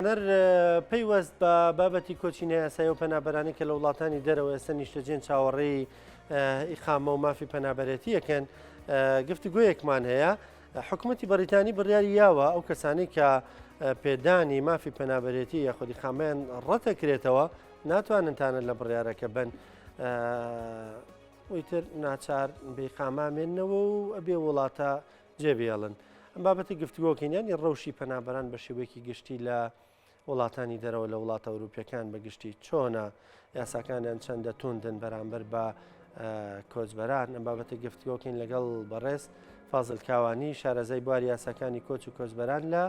هونەر پەیوەست بە بابەتی کۆچی نایاسایی و پەنابەرانی کە لە وڵاتانی دەرەوە ئێستا نیشتەجێن چاوەڕێی ئیقامە و مافی پەنابەرێتیەکەن گفتوگویەکمان هەیە حکوومەتتی بەریتانی بڕیاری یاوە ئەو کەسانی کە پێدانی مافی پەنابەرێتی یە خودی خامیان ڕەتەکرێتەوە ناتوانن تانە لە بڕیارەکە بن ئیتر ناچار بێقامامێنەوە و ئەبێ وڵاتە جێ بێڵن ئەم بابەتی گفتوگۆکەین ینی ڕەوشی پەنابەران بە شێوەیەکی گشتی لە وڵاتانی دەرەوە لە وڵاتە ئەوروپیەکان بەگشتی چۆنە یاساکانیان چەندە توندن بەرامبەر بە کۆچبەران ئەم بابەتە گفتگۆکەین لەگەڵ بەڕێز فازل کاوانی شارەزای بوار یاساکانی کۆچ و کۆچبەران لە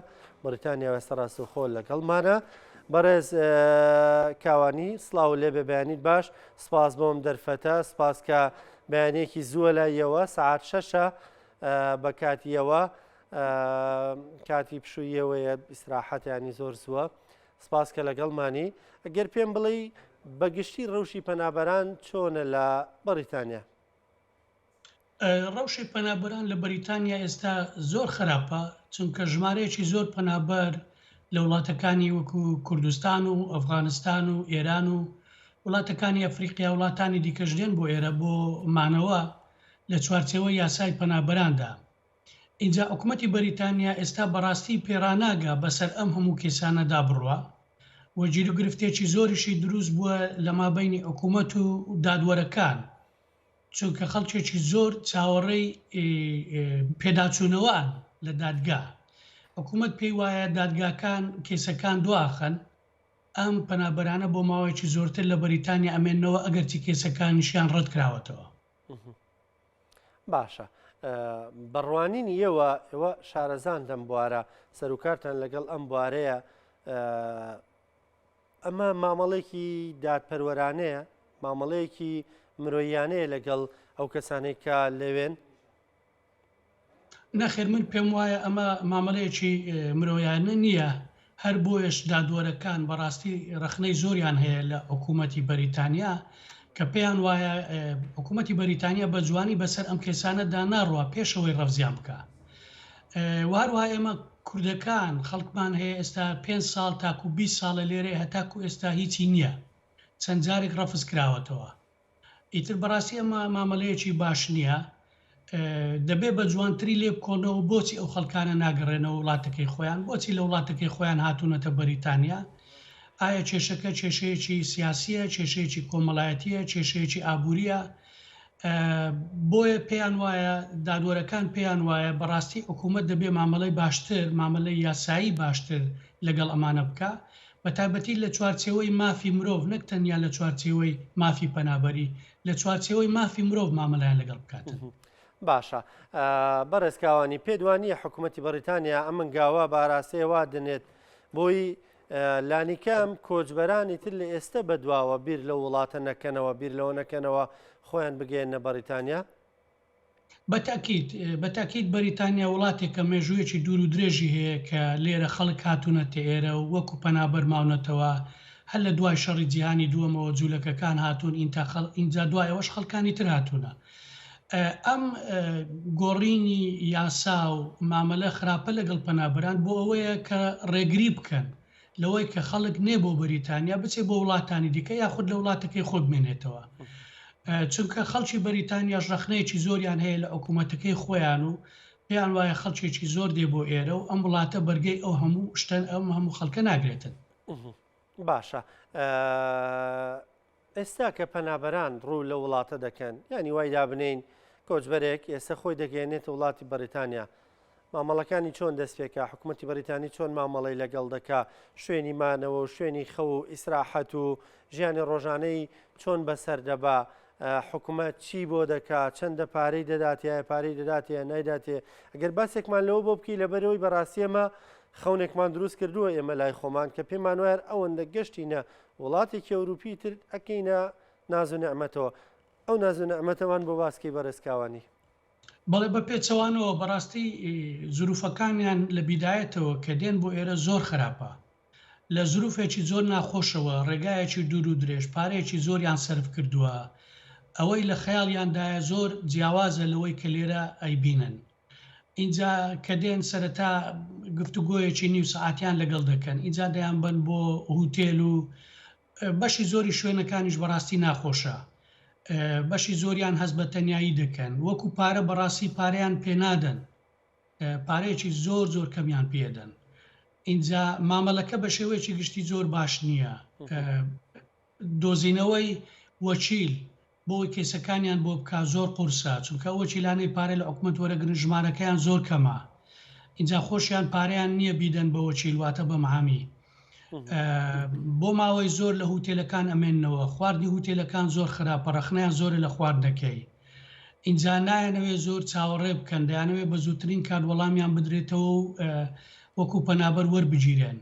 بریتانیا وێستە ڕاست و خۆل لەگەڵمانە بەڕێز کاوانی سلااو لێ بەبیانیت باش سپاس بۆم دەرفەتە سپاس کە بەیانێکی زووە لایەوە سعات شەشە بە کاتیەوە کاتی پشوویەوەیە ئیسراحەتیانی زۆر زووە سپاس کە لەگەڵمانی ئەگەر پێم بڵی بەگشتی ڕەوشی پەنابەران چۆنە لە بەریتانیا ڕەوشی پەنابەران لە بەریتانیا ئێستا زۆر خراپە چونکە ژمارەیەکی زۆر پەنابەر لە وڵاتەکانی وەکو کوردستان و ئەفغانستان و ئێران و وڵاتەکانی ئەفریقیا وڵاتانی دیکەژدێن بۆ ئێرە بۆ مانەوە لە چوارچێوەی یاسای پەنابەراندا. ئینجا حکومەتی بەریتانیا ئێستا بەڕاستی پێڕاناگا بەسەر ئەم هەموو کێسانەدا بڕوا و گیروگرفتێکی زۆریشی دروست بووە لە مابەینی حکومەت و دادوەرەکان چونکە خەڵکێکی زۆر چاوەڕێی پێداچوونەوەن لە دادگا. حکومەت پێی وایە دادگاکان کێسەکان دواخەن. ئەم پەنابەرانە بۆ ماوەیەکی زۆرتر لە بەریتانیا ئەمێننەوە ئەگەرچی کەیسەکانشیان ڕەتکراوەتەوە. باشە بە ڕوانینی ئێوە ئێوە شارەزان لەم بوارە سەرکارتان لەگەڵ ئەم بوارەیە ئەمە مامەڵێکی دادپەروەرانەیە مامەڵەیەکی مرۆیانەیە لەگەڵ ئەو کەسانێک کە لەوێن نەخێر من پێم وایە ئەمە مامەلەیەکی مرۆیانە نییە، هەر بۆیەش دادوەرەکان بەڕاستی ڕەخنەی زۆریان هەیە لە حکوومەتی بەریتانیا کە پێیان وایە حکوومەتی بەریتانیا بە جوانی بەسەر ئەم کێسانەدا ناڕوا پێشەوەی ڕەفزیان بکە و هەروە ئێمە کوردەکان خەڵکمان هەیە ئێستا پێ ساڵ تاکو 20 ساڵە لێرەیە هەتاکو ئێستا هیچی نییە چەند جارێک ڕەفز کراوەتەوە ئیتر بەڕاستی ئەمە مامەلەیەکی باش نیە دەبێ بە جوانتری لێ بکۆنەوە بۆچی ئەو خەڵکانە ناگەڕێنەوە وڵاتەکەی خۆیان بۆچی لە وڵاتەکەی خۆیان هاتونەتە بەریتانیا ئایا کێشەکە کێشەیەکی سیاسیە کێشەیەکی کۆمەڵایەتیە کێشەیەکی ئابووریە بۆیە پێیان وایە دادوەرەکان پێیان وایە بەڕاستی حکوومەت دەبێ مامەڵی باشتر مامەلەی یاسایی باشتر لەگەڵ ئەمانە بکە بە تایبەتی لە چوارچێوەی مافی مرۆڤ نەک تەنیا لە چوارچێوەی مافی پەنابەری، لە چوارچێوەی مافی مرۆڤ مامەلەیان لەگەڵ بکاتن. باشە بەڕێز کاوانی پێت وا نییە حکوومەتی بەڕیتانیا ئەم هەنگاوە بە ئاراستەیە وا دەنێت بۆی لانیکەم کۆچبەرانی تر لە ئێستە بەدواوە بیر لەو وڵاتە نەکەنەوە بیر لەوە نەکەنەوە خۆیان بگەێنە بەڕیتانیا؟ بە تەئکید، بە تەئکید بەریتانیا وڵاتێکە مێژوویەکی دوور و درێژی هەیە کە لێرە خەڵک هاتوونەتە ئێرە و وەکوو پەنابەر ماونەتەوە. هەر لە دوای شەڕی جیهانی دووەمەوە جوولەکەکان هاتوون ئینتا خەڵ، ئینجا دوای ئەوەش خەڵکانی تر هاتوونە. ئەم گۆڕینی یاسا و مامەلە خراپە لەگەڵ پەنابەران بۆ ئەوەیە کە ڕێگری بکەن لەوەی کە خەڵک نێ بۆ بەریتانیا بچێ بۆ وڵاتانی دیکە یاخود لە وڵاتەکەی خۆ بمێنێتەوە چونکە خەڵکی بەریتانیاش ڕخنەیەکی زۆریان هەیە لە حکوومەتەکەی خۆیان و پێیان وایە خەڵکێکی زۆر دێ بۆ ئێرە و ئەم وڵاتە بەرگەی ئەو هەموو شتەن ئەم هەموو خەڵکە ناگرێتن باشە ئێستا کە پەنابەران ڕوو لەو وڵاتە دەکەن، یانی وای دابنێین کۆچبەرێک ئێستا خۆی دەگەیەنێتە وڵاتی بەڕیتانیا، مامەڵەکانی چۆن دەست پێکا، حکومەتی بەڕیتانی چۆن مامەڵەی لەگەڵ دەکا، شوێنی مانەوە و شوێنی خەو و ئیسراحەت و ژیانی ڕۆژانەی چۆن بەسەر دەبا، حکومەت چی بۆ دەکا، چەندە پارەی دەداتێ، ئایا پارەی دەداتێ یان نایداتێ، گەر باسێکمان لەوە بۆ بکەی، لەبەرئەوەی بەڕاستی ئێمە خەونێکمان دروست کردووە ئێمە لای خۆمان کە پێمان وایە ئەوەندە گەشتینە وڵاتێکی ئەوروپی تر ئەکەینە ناز و نعمەتەوە ئەو ناز و نعمەتەمان بۆ باس کەی بەڕێز کاوانی. بەڵێ بە پێچەوانەوە بەڕاستی زروفەکانیان لە بیدایەتەوە کە دێن بۆ ئێرە زۆر خراپە لە زروفێکی زۆر ناخۆشەوە ڕێگایەکی دوور و درێژ پارەیەکی زۆریان سەرف کردوە ئەوەی لە خەیاڵیاندایە زۆر جیاوازە لەوەی کە لێرە ئەیبینن ئینجا کە دێن سەرەتا گفتوگۆیەکی نیو سەعاتیان لەگەڵ دەکەن ئینجا دەیانبەن بۆ هوتێل و بەشی زۆری شوێنەکانیش بەڕاستی ناخۆشە بەشی زۆریان هەست بە تەنایی دەکەن وەکو پارە بەڕاستی پارەیان پێنادەن پارەیەکی زۆر زۆر کەمیان پێدەن ئینجا مامەلەکە بە شێوەیەکی گشتی زۆر باش نییە دۆزینەوەی وەچیل بۆوەی کەیسەکانیان بۆ بکا زۆر قورسە چونکە ئەو وەکیلانەی پارەی لە حکومەت وەرەگرن ژمارەکەیان زۆر کەمە ئینجا خۆشیان پارەیان نییە بیدەن بە وەکیل واتە بەم عامی بۆ ماوەی زۆر لە هوتێلەکان ئەمێنەوە خواردنی هوتێلەکان زۆر خراپە ڕەخنیان زۆرە لە خواردنەکەی ئینجا نایەنەوێ زۆر چاوەڕێ بکەن دەیانەوێ بە زووترین کات وەڵامیان بدرێتەوە و وەکو پەنابەر وەربگیرێن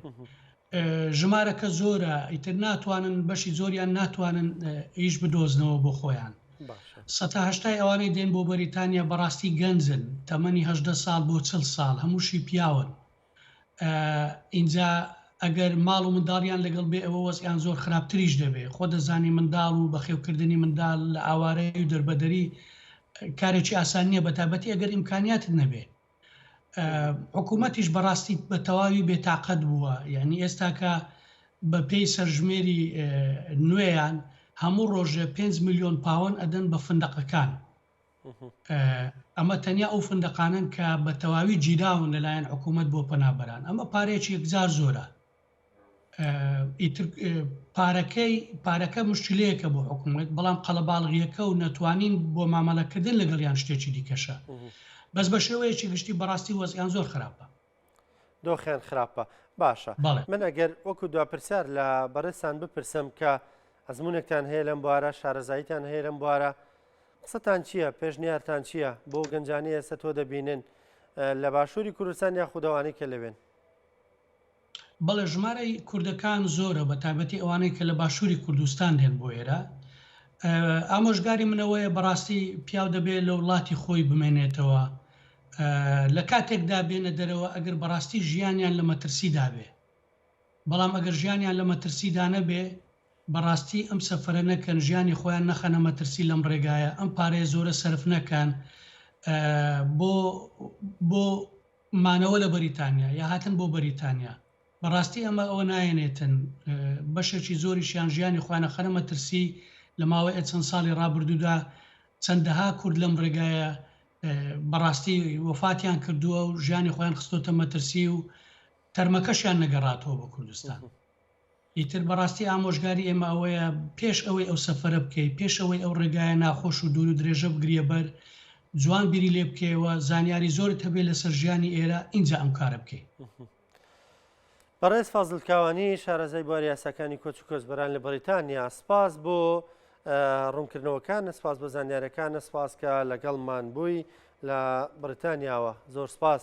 ژمارەکە زۆرە ئیتر ناتوانن بەشی زۆریان ناتوانن ئیش بدۆزنەوە بۆ خۆیان سەتا هەشتای ئەوانەی دێن بۆ بەریتانیا بەڕاستی گەنجن تەمەنی هەدە ساڵ بۆ چل ساڵ هەمووشی پیاون ئینجا ئەگەر ماڵ و منداڵیان لەگەڵ بێ ئەوە وەزیان زۆر خراپتریش دەبێ خۆ دەزانی منداڵ و بەخێوکردنی منداڵ لە ئاوارەی و دەربەدەری کارێکی ئاسان نییە بە تابەتی ئەگەر ئیمکانیاتت نەبێ حکوومەتیش بەڕاستی بە تەواوی بێتاقەت بووە یعنی ئێستاکە بە پێی سەرژمێری نوێیان هەموو ڕۆژێ 5 میلیۆن پاوەن ئەدەن بە فندەقەکان ئەمە تەنیا ئەو فندەقانن کە بە تەواوی گیراون لەلایەن حکوومەت بۆ پەنابەران ئەمە پارێکی یەکجار زۆرە ئیتر پارەکەی پارەکە مشکلەیەکە بۆ حکوومەت بەڵام قەڵەباڵغیەکە و نەتوانین بۆ مامەڵەکردن لەگەڵیان شتێکی دیکەشە بەس بە شێوەیەکی گشتی بەڕاستی وەزیان زۆر خراپە دۆخیان خراپە باشە من ئەگەر وەکو دو پرسیار لە بەڕێسان بپرسم کە ئەزمونێکتان هەیە لەم بوارە شارەزاییتان هەیە لەم بوارە قسەتان چییە پێشنیارتان چییە بۆ گەنجانی ئێستا تۆ دەبینن لە باشووری کوردستان یاخودەوانی کە لەوێن بەڵێ ژمارەی کوردەکان زۆرە بە تایبەتی ئەوانەی کە لە باشووری کوردستان دێن بۆ ئێرە ئامۆژگاری منەوەیە بەڕاستی پیاو دەبێت لە وڵاتی خۆی بمێنێتەوە لە کاتێکدا بێنە دەرەوە ئەگەر بەڕاستی ژیانیان لە مەترسی دابێ بەڵام ئەگەر ژیانیان لە مەترسیدا نەبێ بەڕاستی ئەم سەفرە نەکەن ژیانی خۆیان نەخەنە مەترسی لەم ڕێگایە ئەم پارەیە زۆرە سرف نەکەن بۆ بۆ مانەوە لە بەریتانیا یا هاتن بۆ بەریتانیا بە ڕاستی ئەمە ئەوە نایەنێتن بەشێکی زۆریشیان ژیانی خۆیان ئەخەنە مەترسی لە ماوەی چەند ساڵی ڕابردوودا چەندەها کورد لەم ڕێگایە بە ڕاستی وەفاتیان کردووە و ژیانی خۆیان خستۆتە مەترسی و تەرمەکەشیان نەگەڕاتەوە بۆ کوردستان. ئیتر بەڕاستی ئامۆژگاری ئێمە ئەوەیە پێش ئەوەی ئەو سەفەرە بکەی، پێش ئەوەی ئەو ڕێگایە ناخۆش و دوور و درێژە بگریە بەر، جوان بیری لێ بکەیەوە، زانیاری زۆرت هەبێ لەسەر ژیانی ئێرە، ئینجا ئەم کارە بکەی. بەڕێز فازل کاوانی شارەزای بواری یاساکانی کۆچ و کۆچبەران لە بەریتانیا سپاس بۆ ڕوونکردنەوەکان سپاس بۆ زانیارەکان سپاس کە لەگەڵمان بووی لە بریتانیاوە زۆر سپاس